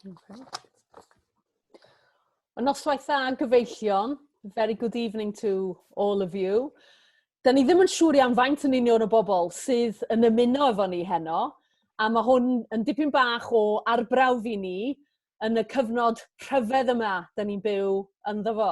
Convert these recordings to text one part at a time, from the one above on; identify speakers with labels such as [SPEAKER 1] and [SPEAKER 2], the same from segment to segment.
[SPEAKER 1] Okay. Y noswaith dda yn gyfeillion. Very good evening to all of you. Da ni ddim yn siŵr iawn faint yn union o bobl sydd yn ymuno efo ni heno, a mae hwn yn dipyn bach o arbrawf i ni yn y cyfnod rhyfedd yma da ni'n byw ynddo fo.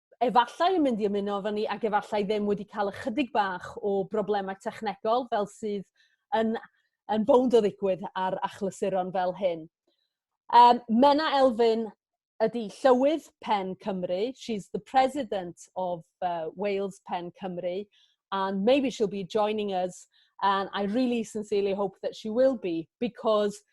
[SPEAKER 1] efallai yn mynd i ymuno efo ni ac efallai ddim wedi cael ychydig bach o broblemau technegol fel sydd yn, yn bownd o ddigwydd ar achlysuron fel hyn. Um, Mena Elfyn ydy Llywydd Pen Cymru. She's the president of uh, Wales Pen Cymru and maybe she'll be joining us and I really sincerely hope that she will be because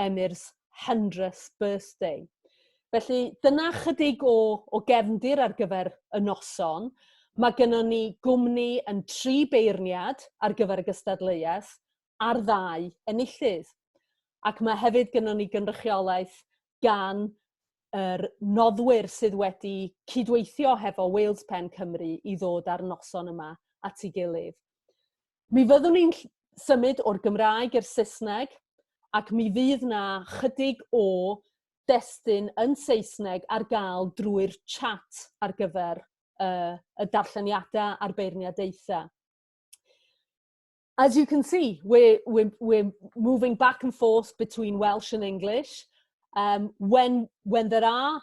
[SPEAKER 1] Emir's hundredth birthday. Felly dyna chydig o, o gefndir ar gyfer y noson. Mae gennym ni gwmni yn tri beirniad ar gyfer y gystadleuaeth a'r ddau enillydd. Ac mae hefyd gennym ni gynrychiolaeth gan yr noddwyr sydd wedi cydweithio hefo Wales Pen Cymru i ddod â'r noson yma at ei gilydd. Mi fyddwn ni'n symud o'r Gymraeg i'r Saesneg ac mi fydd na chydig o destun yn Saesneg ar gael drwy'r chat ar gyfer uh, y darlleniadau a'r beirniadaethau. As you can see, we're, we're, we're moving back and forth between Welsh and English. Um, when, when there are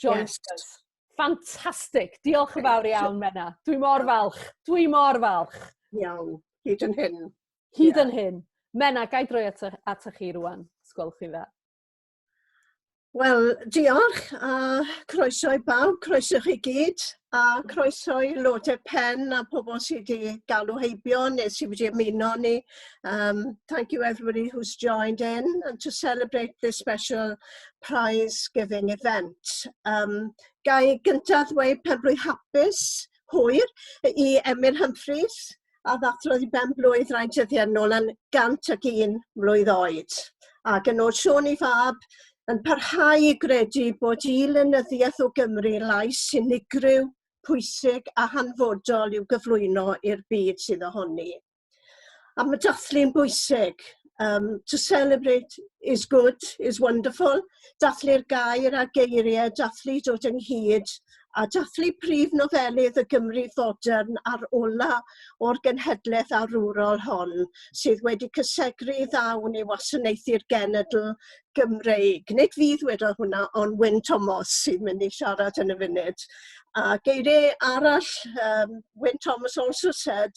[SPEAKER 1] Join yes. us. Fantastic. Diolch yn fawr iawn, Menna. Dwi mor falch. Dwi mor falch. Iawn. Hyd yn hyn. Hyd yeah. yn hyn. Menna, gai droi atoch, atoch chi rwan, sgwel chi dda. Wel, diolch a croeso i bawb, croeso chi gyd a croeso i Lode Pen a pobl sydd wedi galw heibio neu sydd wedi ymuno ni. Um, thank you everybody who's joined in and to celebrate this special prize giving event. Um, ga i gyntaf ddweud pen blwydd hapus, hwyr, i Emyr Humphreys, a ddathrodd i ben blwydd rai dyddiau nôl yn 101 mlwydd oed. Ac yn ôl Siôn i fab, yn parhau i gredu bod i lenyddiaeth o Gymru lais unigryw, pwysig a hanfodol i'w gyflwyno i'r byd sydd ohoni. A mae dathlu'n bwysig. Um, to celebrate is good, is wonderful. Dathlu'r gair a geiriau, dathlu dod ynghyd, a dathlu prif nofelydd y Gymru fodern a'r ola o'r genhedlaeth arwrol hon sydd wedi cysegru ddawn i wasanaethu'r genedl Gymreig. Nid fydd wedodd hwnna, ond Wyn Thomas sy'n mynd i siarad yn y funud. A geiriau arall, um, Wyn Thomas also said,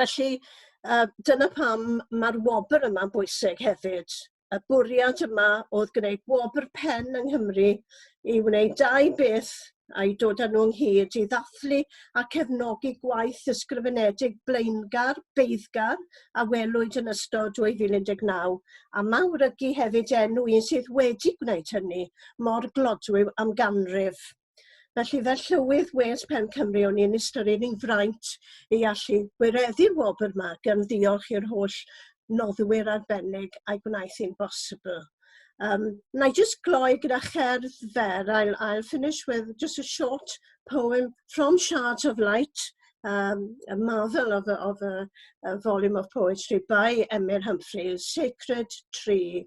[SPEAKER 1] Felly yy dyna pam ma'r wobr yma'n bwysig hefyd. Y bwriad yma oedd gwneud wobr pen yng Nghymru i wneud dau beth a'i dod â nhw ynghyd i ddathlu a cefnogi gwaith ysgrifenedig blaengar, beiddgar a welwyd yn ystod 2019 a mawrygu hefyd enw un sydd wedi gwneud hynny mor glodwiw am ganrif. Felly fel Llywydd Wales Pen Cymru o'n i'n ystyried yn fraint i allu gwireddu'r wobr yma gan ddiolch i'r holl noddwyr arbennig a'i gwnaeth hi'n bosibl. Um, na i just gloi gyda cherdd fer. I'll, I'll finish with just a short poem from Shards of Light, um, a marvel of a, of a, a volume of poetry by Emyr Humphreys, Sacred Tree.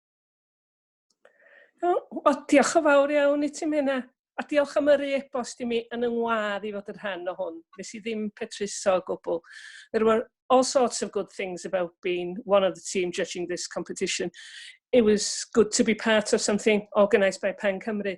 [SPEAKER 1] O, o, diolch yn fawr iawn i ti, Mena. A diolch am yr e-bost i mi yn yng ngwad i fod yn rhan o hwn. Nes i ddim petruso o gwbl. There were all sorts of good things about being one of the team judging this competition. It was good to be part of something organised by Pen Cymru.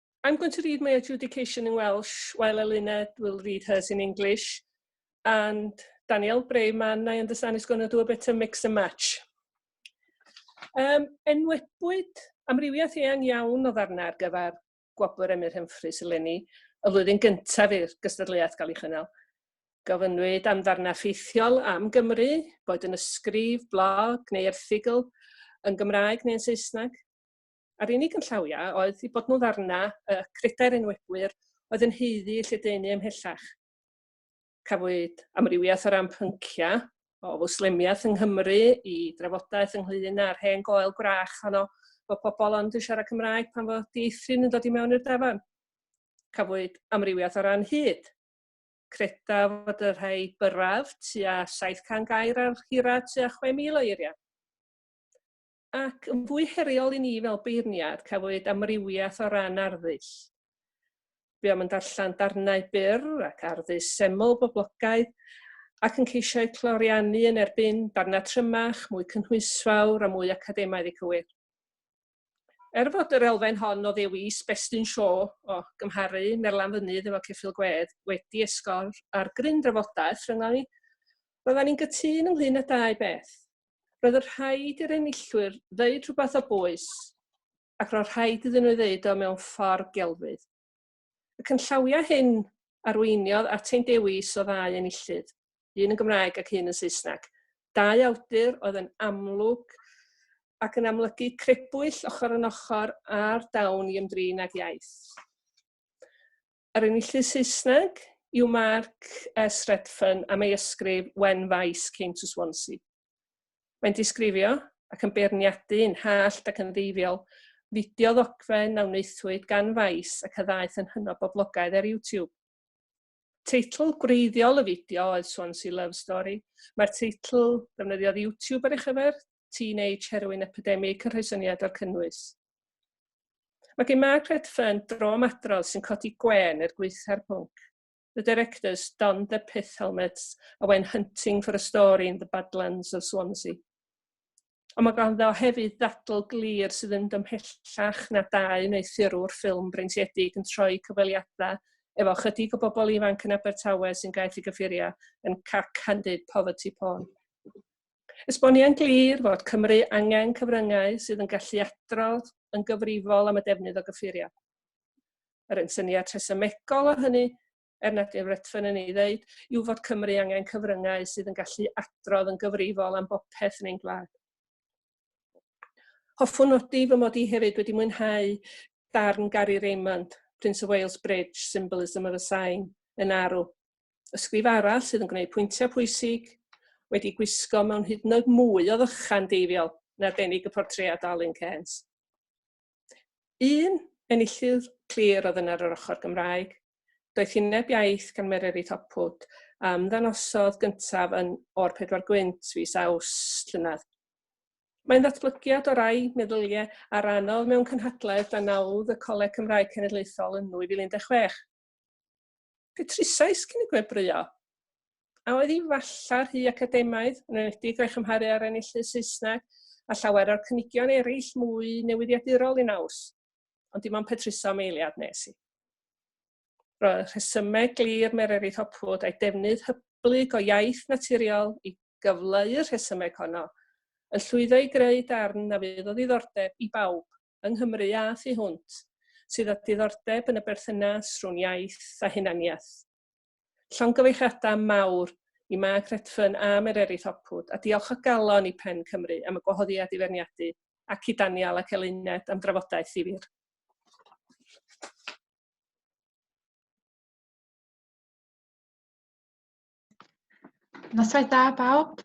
[SPEAKER 1] I'm going to read my adjudication in Welsh while Elena will read hers in English. And Daniel Brayman, I understand, is going to do a bit of mix and match. Um, enwebwyd amrywiaeth eang iawn o ddarnau ar gyfer gwobr Emyr Humphreys eleni y flwyddyn gyntaf i'r gystadleuaeth gael ei chynnal. Gofynnwyd am ddarnau ffeithiol am Gymru, boed yn ysgrif, blog neu erthigol, yn Gymraeg neu yn Saesneg. a'r unig ynllawiau oedd eu bod nhw'n ddarna y credau'r enwebwyr oedd yn heuddu eu lledaenu ymhellach. Cafwyd amrywiaeth o ran pynciau, o fwslemiaeth yng Nghymru i drafodaeth ynglyn â'r hen goel gwrach honno bod pobl ond yn siarad Cymraeg pan fod dieithryn yn dod i mewn i'r dafarn. Cafwyd amrywiaeth o ran hyd. Credaf fod y rhai byrraf tua 700 gair ar hira tua 6,000 o eiriau. Ac yn fwy heriol i ni fel beirniad, cafwyd amrywiaeth o ran arddull. Buom yn darllen darnau byr ac arddull seml boblogaidd, ac yn ceisio eu cloriannu yn erbyn darnau trymach, mwy cynhwysfawr a mwy academaidd i cywir. Er fod yr elfen hon o ddewis Best in Show o gymharu Merlan Fynydd efo Ceffyl Gwedd wedi esgor ar gryn drafodaeth rhyngom ni, roeddan ni'n gytûn ynglŷn â dau beth. roedd yn rhaid i'r enillwyr ddeud rhywbeth o bwys ac roedd rhaid iddyn nhw ddeud o mewn ffordd gelfydd. Y cynllawiau hyn arweiniodd at ein dewis o ddau enillydd, un yn Gymraeg ac un yn Saesneg. Dau awdur oedd yn amlwg ac yn amlygu crebwyll ochr yn ochr a'r dawn i ymdrin ag iaith. Yr enillydd Saesneg yw Mark S. Redfern am ei ysgrif When Vice Came to Swansea. Mae'n disgrifio, ac yn beirniadu yn hallt ac yn ddeifiol, fideo ddogfen a wnaethwyd gan Vice ac a ddaeth yn hynod boblogaidd ar YouTube. Teitl gwreiddiol y fideo oedd Swansea Love Story. Mae'r teitl ddefnyddiodd YouTube ar ei chyfer, Teenage Heroin Epidemic yn rhoi syniad o'r cynnwys. Mae gen Margaret Fern dromadrodd sy'n codi gwen er gweitha'r pwnc. The directors donned their pith helmets a went hunting for a story in the badlands of Swansea. Ond mae ganddo hefyd ddadl glir sydd yn dymhellach na dau wneuthurwr ffilm breintiedig yn troi cyfweliadau efo chydig o bobl ifanc yn Abertawe sy'n gaeth i gyffuriau yn cack-handed poverty porn. Esboniai'n glir fod Cymru angen cyfryngau sydd yn gallu adrodd yn gyfrifol am y defnydd o gyffuriau. Yr un syniad rhesymegol o hynny, er nad yw'n retfyn yn ei ddeud, yw fod Cymru angen cyfryngau sydd yn gallu adrodd yn gyfrifol am bopeth yn ein gwlad. Hoffwn nodi fy mod i hefyd wedi mwynhau darn Gary Raymond, Prince of Wales Bridge, Symbolism of a Sign, yn arw, Ysgrif arall sydd yn gwneud pwyntiau pwysig, wedi gwisgo mewn hyd yn oed mwy o ddychan deifiol yn arbennig y portread Alun Cairns. Un enillydd clir oedd yna ar yr ochr Gymraeg, doethineb iaith gan Mererid Hopwood a ymddangosodd gyntaf yn O'r Pedwar Gwynt fis aws llynedd. Mae'n ddatblygiad o rai meddyliau a rannodd mewn cynhadledd dan nawdd y Coleg Cymraeg Cenedlaethol yn 2016. Petrusais cyn y gwebrwyo. A oedd hi falla rhy academaidd, yn enwedig o'i chymharu â'r enillydd Saesneg a llawer o'r cynigion eraill mwy newyddiadurol i naws? Ond dim ond petruso am eiliad nes i. Roedd y rhesymeg glir Mererid Hopwood a'i defnydd hyblyg o iaith naturiol i gyfleu'r rhesymeg honno yn llwyddo i greu darn na fydd o ddiddordeb i bawb yng Nghymru a thu hwnt sydd â diddordeb yn y berthynas rhwng iaith a hunaniaeth. Llongyfeilliadau mawr i Mark Redfern a Mererid Hopwood, a diolch o galon i Pen Cymru am y gwahoddiad i feirniadu, ac i Daniel ac Eluned am drafodaeth ddifyr. Noswaith da bawb.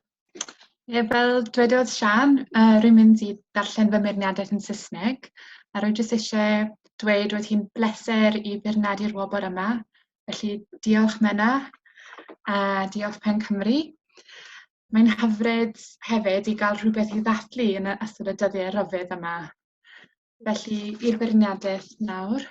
[SPEAKER 1] Ie, fel dwedodd Sian, uh, rwy'n mynd i darllen fy meirniadaeth yn Saesneg, a rwy'n jyst eisiau dweud roedd hi'n bleser i feirniadu'r wobr yma, felly diolch Menna, a diolch Pen Cymru. Mae'n hyfryd hefyd i gael rhywbeth i ddathlu yn ystod y dyddiau rhyfedd yma. Felly, i'r beirniadaeth nawr.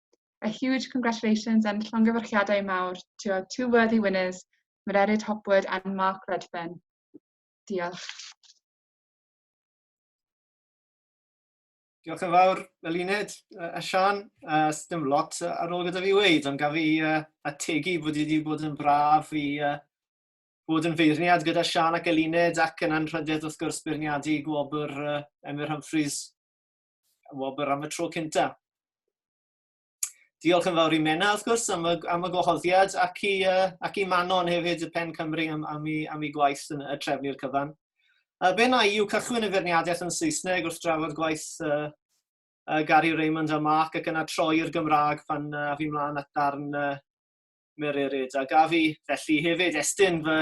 [SPEAKER 1] A huge congratulations and llongyfarchiadau mawr to our two worthy winners, Mererid Hopwood and Mark Redfern. Diolch. Diolch yn fawr, Eluned a Sian. Uh, dim lot ar ôl gyda fi weid, ond gaf i uh, ategu bod wedi bod yn braf i uh, bod yn feirniad gyda Sian ac Eluned ac yn anrhydedd wrth gwrs beirniadu gwobr uh, Emyr Humphreys wobr am y tro cynta. Diolch yn fawr i Menna, wrth gwrs, am y, am y gwahoddiad, ac i, uh, ac i Manon hefyd, y Pen Cymru, am, am, i, am i gwaith yn y trefnu'r cyfan. Uh, be na i yw cychwyn y ferniadaeth yn Saesneg wrth drafod gwaith uh, uh, Gary Raymond a Mark ac yna troi i'r Gymraeg pan uh, a fi mlaen at darn uh, Mererid. A gaf i felly hefyd estyn fy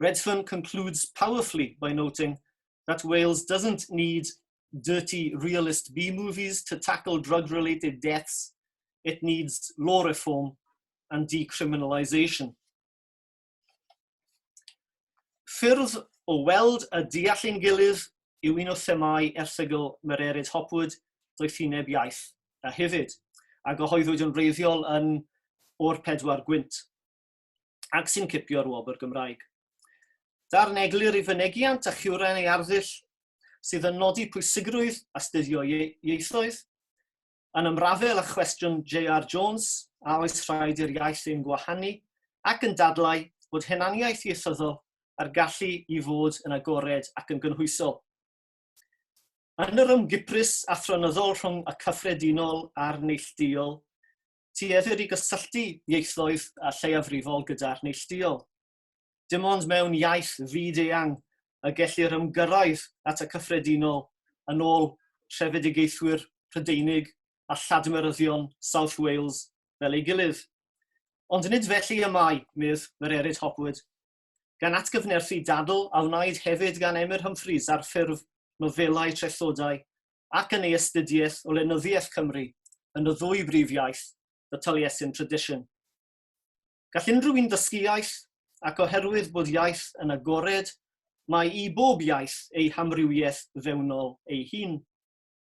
[SPEAKER 1] Redfern concludes powerfully by noting that Wales doesn't need dirty realist B movies to tackle drug related deaths, it needs law reform and decriminalisation. Ffyrdd o weld a deall ein gilydd yw un o themau erthygl Mererid Hopwood, doethineb iaith a hefyd, a gyhoeddwyd yn wreiddiol yn o'r pedwar gwynt. ac sy'n cipio'r wobr Gymraeg. Darn eglur i fynegiant a chiwren ei arddull sydd yn nodi pwysigrwydd astuddio ieithoedd, yn ymrafel â chwestiwn J.R. Jones, a oes rhaid i'r iaith ein gwahanu, ac yn dadlau bod hunaniaeth ieithyddol a'r gallu i fod yn agored ac yn gynhwysol. Yn yr ymgyprys athronyddol rhwng y cyffredinol a'r neillduol, tueddir i gysylltu ieithoedd a lleiafrifol gyda'r neillduol. Dim ond mewn iaith fyd-eang y gellir ymgyrraedd at y cyffredinol yn ôl rhefedigaethwyr Prydeinig a lladmeryddion South Wales fel ei gilydd. Ond nid felly y mae, medd Mererid Hopwood, gan atgyfnerthu dadl a wnaed hefyd gan Emyr Humphreys ar ffurf nofelau trethodau ac yn ei astudiaeth o lenyddiaeth Cymru yn y ddwy brif iaith, The Taliesin Tradition. Gall unrhyw un ddysgu iaith, ac oherwydd bod iaith yn agored, mae i bob iaith ei hamrywiaeth fewnol ei hun.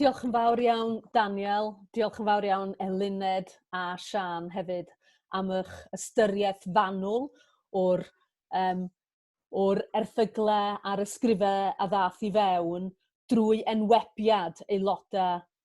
[SPEAKER 1] Diolch yn fawr iawn Daniel, diolch yn fawr iawn Eluned a Sian hefyd am eich ystyriaeth fanwl o'r um, o'r erthyglau a'r ysgrifau a ddath i fewn drwy enwebiad aelodau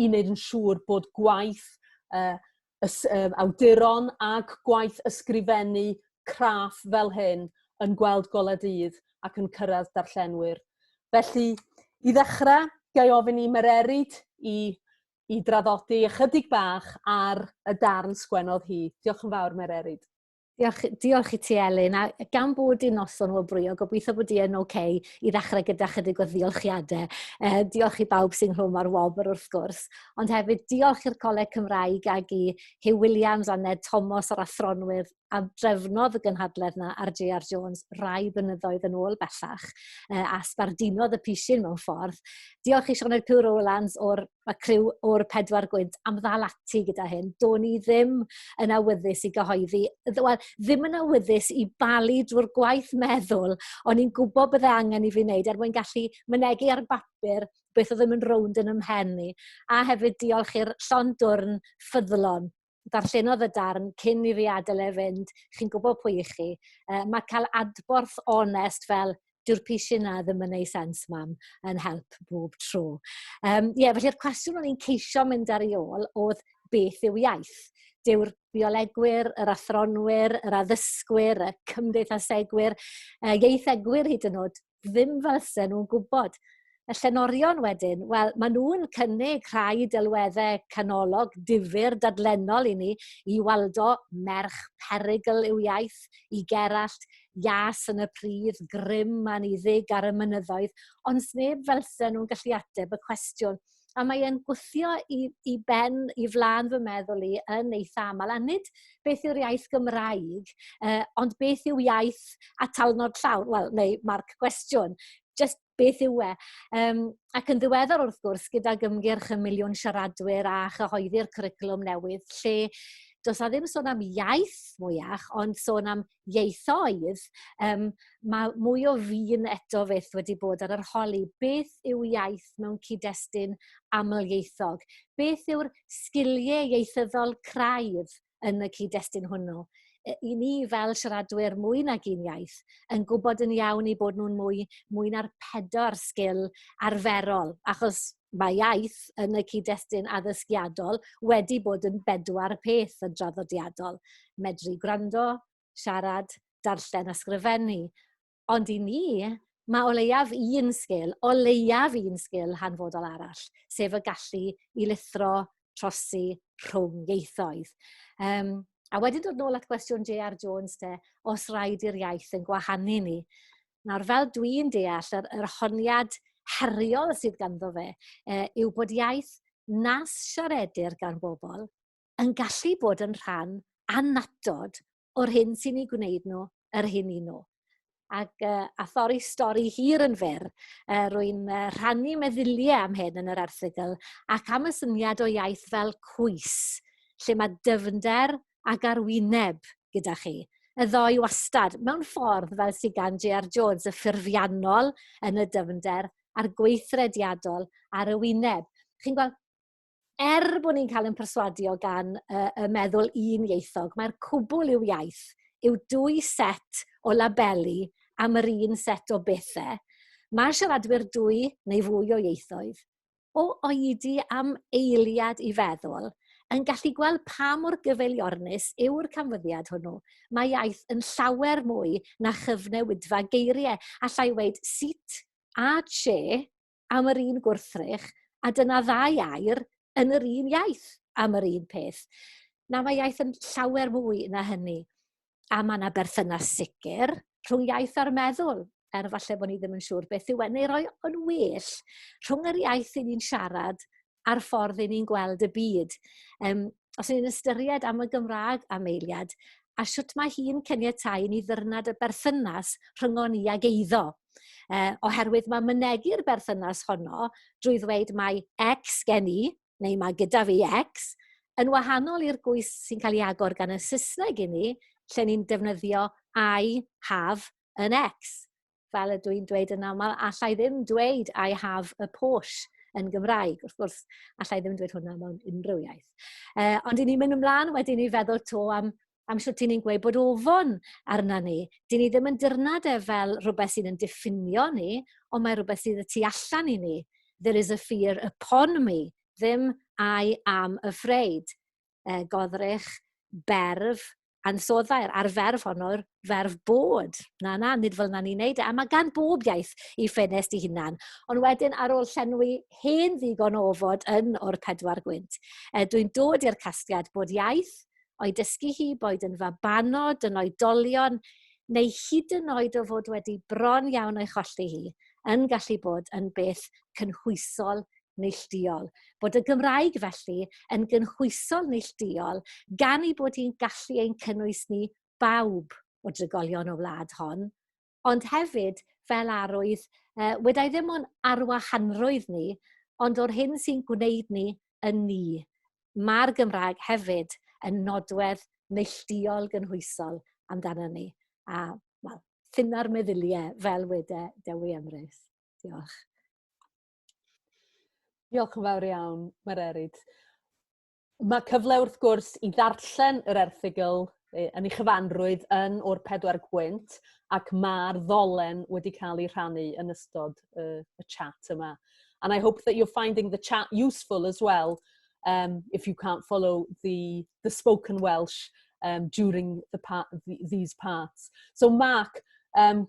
[SPEAKER 1] i wneud yn siŵr bod gwaith uh, ys, uh, awduron ag gwaith ysgrifennu craff fel hyn yn gweld golau dydd ac yn cyrraedd darllenwyr. Felly, i ddechrau, gael ofyn i Mererid i, i draddodi ychydig bach ar y darn sgwennodd hi. Diolch yn fawr, Mererid. Diolch, diolch i ti Elin, a gan bod i'n noson o brio, gobeithio bod i yn oce okay, i ddechrau gyda chydig o ddiolchiadau. E, diolch i bawb sy'n rhwm ar wobr wrth gwrs, ond hefyd diolch i'r Coleg Cymraeg ag i Hugh Williams a Ned Thomas o'r athronwydd a drefnodd y gynhadledd na ar J.R. Jones rai bynyddoedd yn ôl bellach e, a sbardinodd y pisyn mewn ffordd. Diolch i Sioned Pugh Rowlands o'r mae criw o'r pedwar gwynt am ddal ati gyda hyn. Do'n ni ddim yn awyddus i gyhoeddi, wel, ddim yn awyddus i balu drwy'r gwaith meddwl, ond ni'n gwybod bydde angen i fi wneud er mwyn gallu mynegu ar bapur beth oedd ddim yn rownd yn ymhen ni. A hefyd diolch i'r llon dwrn ffyddlon darllenodd y darn cyn i fi adael e fynd, chi'n gwybod pwy i chi. Uh, mae cael adborth onest fel dyw'r pisiau na ddim yn ei sens mam yn help bob tro. Um, yeah, felly'r cwestiwn o'n i'n ceisio mynd ar ei ôl oedd beth yw iaith? Dyw'r biolegwyr, yr athronwyr, yr addysgwyr, y cymdeithasegwyr, y ieithegwyr hyd yn oed ddim fysen nhw'n gwybod. Y llenorion wedyn, wel, maen nhw'n cynnig rhai delweddau canolog difyr dadlennol i ni i waldo merch perygl i'w iaith, i Gerallt, ias yn y pridd, grym a niddig ar y mynyddoedd, ond sneb felsen nhw'n gallu ateb y cwestiwn a mae e'n gwthio i i ben i flaen fy meddwl i yn eitha amal a nid beth yw'r iaith Gymraeg yy ond beth yw iaith atalnod llawn wel neu marc gwestiwn jyst beth yw e? Yym ac yn ddiweddar wrth gwrs gydag ymgyrch y miliwn siaradwyr a chyhoeddi'r cwricwlwm newydd lle does 'na ddim sôn am iaith mwyach ond sôn am ieithoedd, yym ma' mwy o fin eto fyth wedi bod ar yr holi. Beth yw iaith mewn cyd-destun amlieithog? Beth yw'r sgilie ieithyddol craidd yn y cyd-destun hwnnw? Y- I ni fel siaradwyr mwy nag un iaith yn gwybod yn iawn eu bod nhw'n mwy mwy na'r pedwar sgil arferol, achos mae iaith yn y cyd-destun addysgiadol wedi bod yn bedwar peth yn draddodiadol. Medru gwrando, siarad, darllen a sgrifennu. Ond i ni, mae o leiaf un sgil, o leiaf un sgil hanfodol arall, sef y gallu i lithro, trosi rhwng ieithoedd. Um, a wedyn dod nôl at gwestiwn J.R. Jones te, os rhaid i'r iaith yn gwahanu ni. Nawr, fel dwi'n deall, yr, yr honiad heriol sydd ganddo fe e, yw bod iaith nas siaredir gan bobl yn gallu bod yn rhan annatod o'r hyn sy'n ei gwneud nhw yr hyn i nhw. Ac uh, a thori stori hir yn fyr, uh, rwy'n uh, rhannu meddyliau am hyn yn yr erthigol ac am y syniad o iaith fel cwys, lle mae dyfnder ac ar wyneb gyda chi. Y ddoi wastad, mewn ffordd fel sydd gan J.R. Jones, y ffurfiannol yn y dyfnder a'r gweithrediadol ar y wyneb. Chi'n gweld, er bod ni'n cael ein perswadio gan y, y meddwl un ieithog, mae'r cwbl i'w iaith yw dwy set o labeli am yr un set o bethau. Mae siaradwyr dwy neu fwy o ieithoedd o oedi am eiliad i feddwl, yn gallu gweld pa mor gyfeiliornus yw'r canfyddiad hwnnw. Mae iaith yn llawer mwy na chyfnewidfa geiriau. Alla i weud sut a lle am yr un gwrthrych, a dyna ddau air yn yr un iaith am yr un peth. Na, mae iaith yn llawer mwy na hynny. a mae yna berthynas sicr rhwng iaith a'r meddwl, er falle bod ni ddim yn siŵr beth yw e, neu roi yn well rhwng yr iaith i ni'n siarad a'r ffordd i ni'n gweld y byd. Um, os ni'n ystyried am y Gymraeg am eiliad, a sut mae hi'n caniatau ni ddyrnad y berthynas rhyngon ni ag eiddo. Uh, oherwydd mae mynegu'r berthynas honno drwy ddweud mae X gen i, neu mae gyda fi X, yn wahanol i'r gwys sy'n cael ei agor gan y Saesneg i ni, lle ni'n defnyddio I have yn X. Fel ydw i'n dweud yn aml, allai ddim dweud I have a Porsche yn Gymraeg. Wrth gwrs, allai ddim dweud hwnna mewn unrhyw iaith. Uh, ond i ni'n mynd ymlaen wedyn i feddwl to am am sut i ni'n gweud bod ofon arna ni. Dyn ni ddim yn dyrnad e fel rhywbeth sydd yn diffinio ni, ond mae rhywbeth sydd y tu allan i ni. There is a fear upon me, ddim I am afraid. E, godrych, berf, ansoddau'r a'r ferf honno'r ferf bod. Na, na, nid fel na ni'n neud e. A mae gan bob iaith i ffenest i hunan. Ond wedyn, ar ôl llenwi hen ddigon o ofod yn o'r pedwar gwynt, e, dwi'n dod i'r casgliad bod iaith o'i dysgu hi boed yn fabanod, yn oedolion, neu hyd yn oed o fod wedi bron iawn o'i cholli hi, yn gallu bod yn beth cynhwysol neillduol. Bod y Gymraeg felly yn gynhwysol neillduol gan ei bod hi'n gallu ein cynnwys ni bawb o drigolion y wlad hon, ond hefyd fel arwydd, yy, wedai ddim o'n arwahanrwydd ni, ond o'r hyn sy'n gwneud ni yn ni. Mae'r Gymraeg hefyd yn nodwedd neillduol gynhwysol amdano ni. A, wel, ffynna'r meddyliau fel wede Dewi Emrys. Diolch. Diolch yn fawr iawn, Mae'r Erid. Mae cyfle wrth gwrs i ddarllen yr erthygl yn ei chyfanrwydd yn o'r pedwar gwynt ac mae'r ddolen wedi cael ei rhannu yn ystod y, y chat yma. And I hope that you're finding the chat useful as well um, if you can't follow the, the spoken Welsh um, during the part, the, these parts. So Mark, um,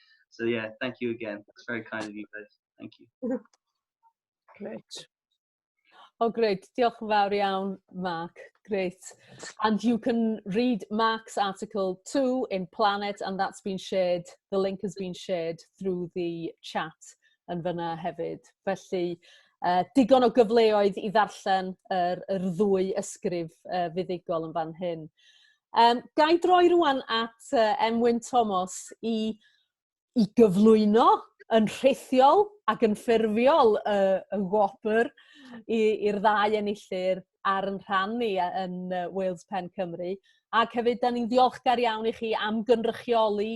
[SPEAKER 1] So yeah, thank you again. It's very kind of you guys. Thank you. Great. Oh, great. Diolch yn fawr iawn, Mark. Great. And you can read Mark's article too in Planet, and that's been shared, the link has been shared through the chat yn fyna hefyd. Felly, uh, digon o gyfleoedd i ddarllen yr, yr ddwy ysgrif uh, fuddugol yn fan hyn. Um, ga i droi rwan at uh, Emwyn Thomas i, i gyflwyno yn rhithiol ac yn ffurfiol y, y wobr i'r ddau enillyr ar yn rhan ni yn Wales Pen Cymru. Ac hefyd, da ni'n ddiolchgar iawn i chi am gynrychioli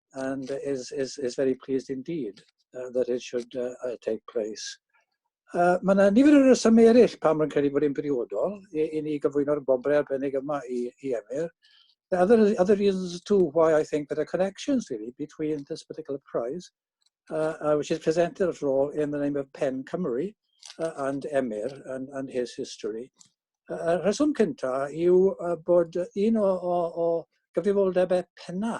[SPEAKER 1] and is, is, is very pleased indeed uh, that it should uh, uh, take place. Uh, mae yna nifer o resymau eraill pam mae'n credu bod yn briodol i, i ni gyflwyno'r bobrau arbennig yma i, i Emyr. The other, other reasons too why I think there are connections really between this particular prize, uh, uh, which is presented at all in the name of Pen Cymru uh, and Emyr and, and his history. Y uh, rheswm cyntaf yw uh, bod un o, o, o gyfrifoldebau penna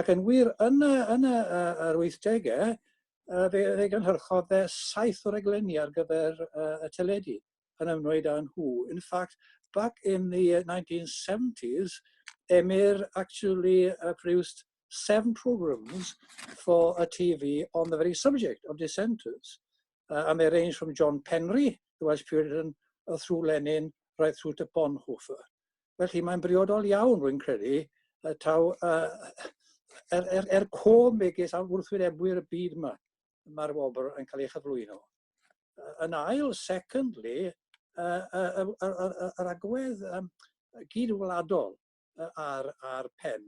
[SPEAKER 1] Ac yn wir, yn y, yn y, uh, yr 80au, uh, fe, fe gynhyrchodd fe saith o reglenni ar gyfer uh, y teledu yn ymwneud â nhw. In fact, back in the 1970s, Emyr actually uh, produced seven programs for a TV on the very subject of dissenters. Uh, and they range from John Penry, the Welsh Puritan, uh, through Lenin, right through to Bonhoeffer. Felly mae'n briodol iawn, rwy'n credu, y taw uh, er, er, er cof megis a wrthwynebwyr y byd yma, mae'r wobr yn cael ei chyflwyno. Uh, yn ail, secondly, uh, uh, uh, uh, uh, yr agwedd um, gyd-wladol uh, ar, ar pen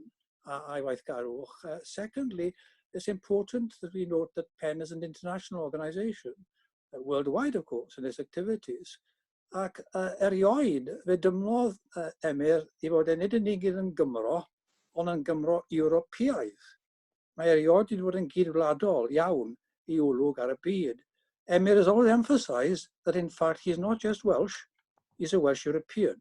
[SPEAKER 1] a, a'i waithgarwch. Uh, secondly, it's important that we note that PEN is an international organisation, uh, worldwide, of course, in its activities. Ac uh, erioed, fe dymlodd uh, Emyr i fod e nid yn unig yn Gymro, ond yn Gymro Ewropeaidd. Mae erioed wedi bod yn gyd-wladol iawn i olwg ar y byd. Emyr has always emphasised that in fact he's not just Welsh, he's a Welsh European.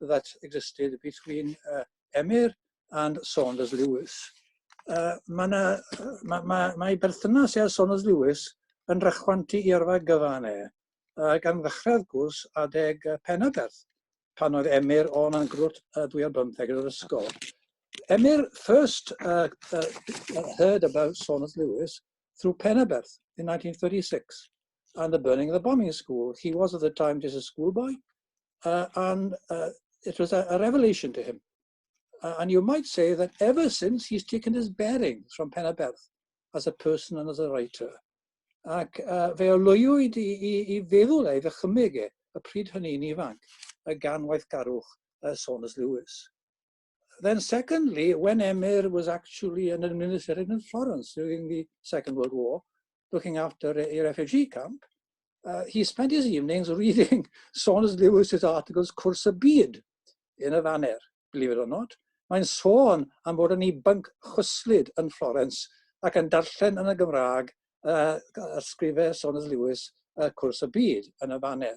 [SPEAKER 1] that existed between uh, Emyr and Saunders Lewis. Uh, mae, na, ma, ma, mae berthynas ar Saunders Lewis yn rhychwantu i arfa gyfan e, uh, gan ddechrau wrth gwrs adeg uh, Penaberth, pan oedd Emyr o'n yn grwt uh, dwi ar bymtheg yn yr ysgol. Emyr first uh, uh, heard about Saunders Lewis through Penaberth in 1936 and the burning of the bombing school. He was at the time just a schoolboy, uh, and uh, it was a, a revelation to him. Uh, and you might say that ever since he's taken his bearings from Penaberth as a person and as a writer. Ac uh, fe olwywyd i, i, i feddwl ei ddychymyg e, y pryd hynny'n ifanc, y gan waithgarwch uh, Saunders Lewis. then secondly, when Emyr was actually an administrator in Florence during the Second World War, looking after a, a refugee camp, uh, he spent his evenings reading Saunders Lewis's articles Cwrs y Byd in a Faner, believe it or not. Mae'n sôn am fod yn ei bync chwyslyd yn Florence ac yn darllen yn y Gymraeg uh, ysgrifau Saunders Lewis uh, Cwrs y Byd yn y Faner.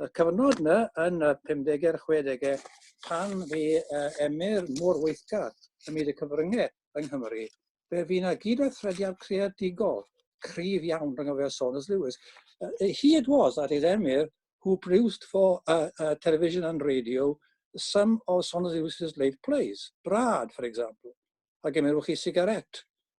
[SPEAKER 1] y cyfnod yna yn y 50er, 60er, pan fi uh, emyr mor weithgar ym myd y cyfryngau yng Nghymru, fe fi na gyd a thrediad creadigol cryf iawn rhwng y fe Saunders Lewis. Uh, he it was that is emyr who produced for uh, uh, television and radio some of Saunders Lewis's late plays, Brad, for example, a gymerwch chi sigaret,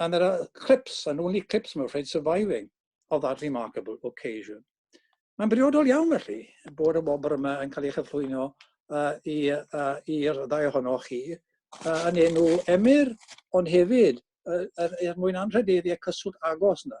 [SPEAKER 1] And there are clips, and only clips, I'm afraid, surviving of that remarkable occasion. Mae'n briodol iawn felly bod y wobr yma yn cael ei chyflwyno uh, i'r uh, ddau ohonoch chi uh, yn enw Emyr, ond hefyd uh, er, er mwyn anrhydeddu y cyswllt agos yna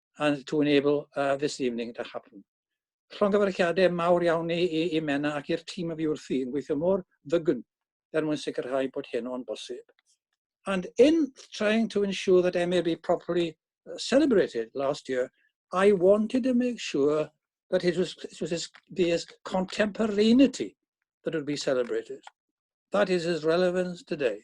[SPEAKER 1] and to enable uh, this evening to happen. Llongyfarchiadau mawr iawn i, i, i Mena ac i'r tîm y fi wrthi yn gweithio mor ddygwn er mwyn sicrhau bod hyn o'n bosib. And in trying to ensure that MAB properly uh, celebrated last year, I wanted to make sure that it was, it was as, be as contemporaneity that would be celebrated. That is his relevance today.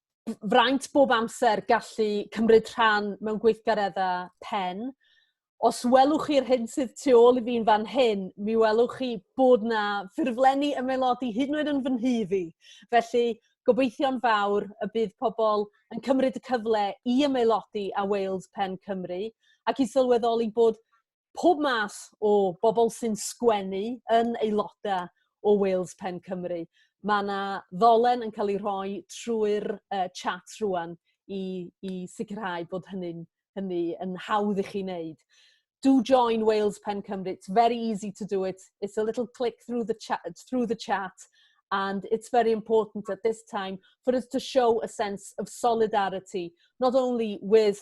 [SPEAKER 1] fraint bob amser gallu cymryd rhan mewn gweithgareddau pen. Os welwch chi'r hyn sydd tu ôl i fi'n fan hyn, mi welwch chi bod na ffurflenni ymaelodi hyd yn oed yn fy nhŷ fi. Felly, gobeithio'n fawr y bydd pobl yn cymryd y cyfle i ymaelodi â Wales Pen Cymru ac i sylweddoli bod pob math o bobl sy'n sgwennu yn aelodau o Wales Pen Cymru. Mae yna ddolen yn cael ei rhoi trwy'r uh, chat rwan i, i sicrhau bod hynny'n hynny yn hawdd i chi wneud. Do join Wales Pen Cymru. It's very easy to do it. It's a little click through the chat, through the chat and it's very important at this time for us to show a sense of solidarity, not only with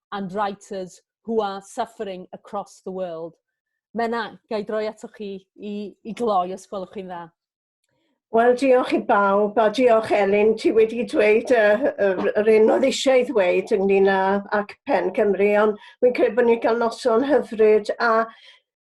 [SPEAKER 1] and writers who are suffering across the world. Menna, gai droi ato chi i, i gloi os gwelwch chi'n dda. Wel, diolch i bawb, a diolch Elin, ti wedi dweud uh, yr un oedd eisiau ei ddweud ynglyn â ac Pen Cymru, ond fi'n credu bod ni'n cael noson hyfryd, a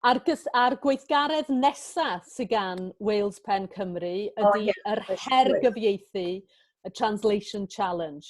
[SPEAKER 1] A'r, ar gweithgaredd nesaf sydd gan Wales Pen Cymru ydy oh, yeah. yr her gyfieithu, y Translation Challenge.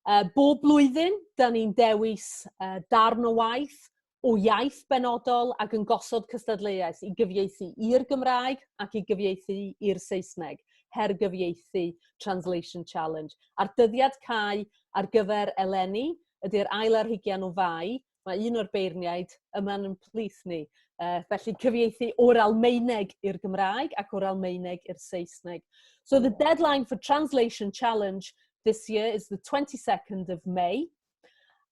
[SPEAKER 1] Uh, bob blwyddyn, da ni'n dewis uh, darn o waith o iaith benodol ac yn gosod cystadleuaeth i gyfieithu i'r Gymraeg ac i gyfieithu i'r Saesneg, her gyfieithu Translation Challenge. A'r dyddiad cae ar gyfer eleni ydy'r ail ar hugian o fai Mae un o'r beirniaid yma'n yn plith ni. Uh, felly cyfieithu o'r Almaeneg i'r Gymraeg ac o'r Almaeneg i'r Saesneg. So the deadline for Translation Challenge this year is the 22nd of May.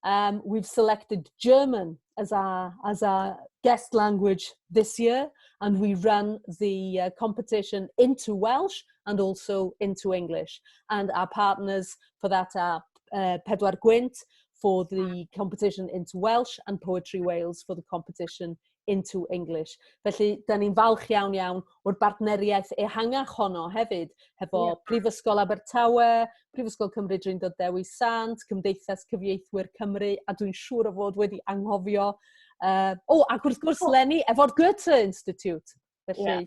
[SPEAKER 1] Um, we've selected German as our, as our guest language this year and we run the uh, competition into Welsh and also into English. And our partners for that are uh, Pedwar Gwent, for the competition into Welsh and Poetry Wales for the competition into English. Felly, da ni'n falch iawn iawn o'r bartneriaeth ehangach honno hefyd, hefo yeah. Prifysgol Abertawe, Prifysgol Cymru Drindod Dewi Sant, Cymdeithas Cyfieithwyr Cymru, a dwi'n siŵr o fod wedi anghofio. Uh, o, oh, ac wrth gwrs, Lenny, efo'r Goethe Institute. Felly, yeah.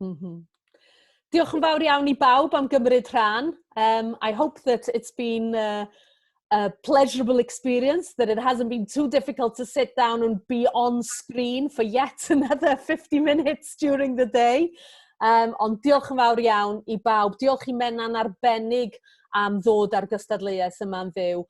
[SPEAKER 1] Mm -hmm. Diolch yn fawr iawn i bawb am gymryd rhan. Um, I hope that it's been uh, a pleasurable experience, that it hasn't been too difficult to sit down and be on screen for yet another 50 minutes during the day. Um, ond diolch yn fawr iawn i bawb. Diolch i Menna'n arbennig am ddod ar gystadleuaeth yma'n fyw.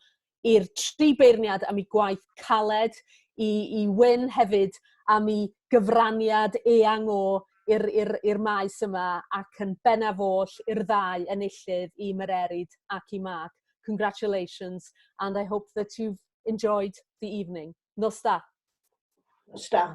[SPEAKER 1] i'r tri beirniad am eu gwaith caled, i, i Wyn hefyd am ei gyfraniad eang o i'r, i'r, i'r maes yma ac yn bennaf oll i'r ddau enillydd i Mererid ac i Mark. Congratulations and I hope that you've enjoyed the evening. Nos da. Nos da.